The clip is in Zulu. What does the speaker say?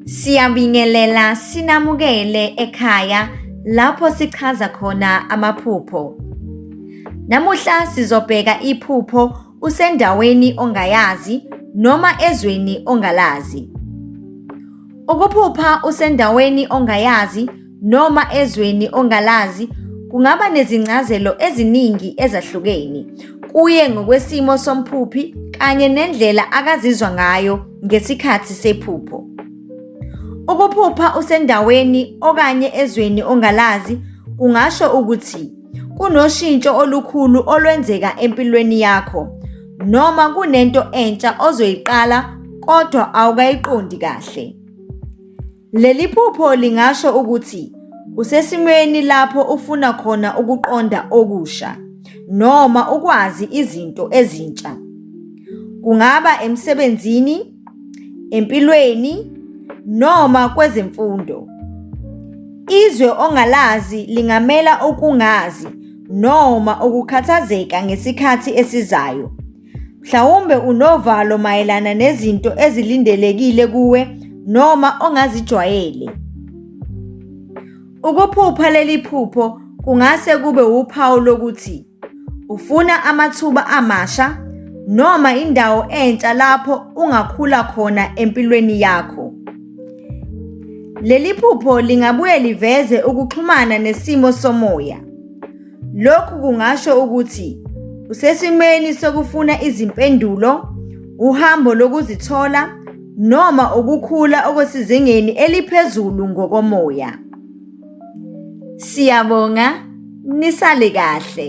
Siyabingelela sinamukele ekhaya lapho sichaza khona amaphupho. Namuhla sizobheka iphupho usendaweni ongayazi noma ezweni ongalazi. Ukuphupha usendaweni ongayazi noma ezweni ongalazi kungaba nezincazelo eziningi ezahlukeni kuye ngokwesimo somphuphi kanye nendlela akazizwa ngayo ngesikhathi sephupho. Ukuphupha usendaweni okanye ezweni ongalazi kungasho ukuthi kunoshintsho olukhulu olwenzeka empilweni yakho noma kunento entsha ozoyiqala kodwa awukayiqondi kahle. Leli phupho lingasho ukuthi usesimweni lapho ufuna khona ukuqonda okusha noma ukwazi izinto ezintsha. Kungaba emsebenzini, empilweni noma kwezemfundo. Izwe ongalazi lingamela ukungazi noma ukukhathazeka ngesikhathi esizayo. Mhlawumbe unovalo mayelana nezinto ezilindelekile kuwe noma ongazijwayele. Ukuphupha leli phupho kungase kube wuphawu lokuthi ufuna amathuba amasha noma indawo entsha lapho ungakhula khona empilweni yakho. Leli phupho lingabuye liveze ukuxhumana nesimo somoya. Lokhu kungasho ukuthi usesimweni sokufuna izimpendulo, uhambo lokuzithola, noma ukukhula okusezingeni eliphezulu ngokomoya. Siyabonga, nisale kahle.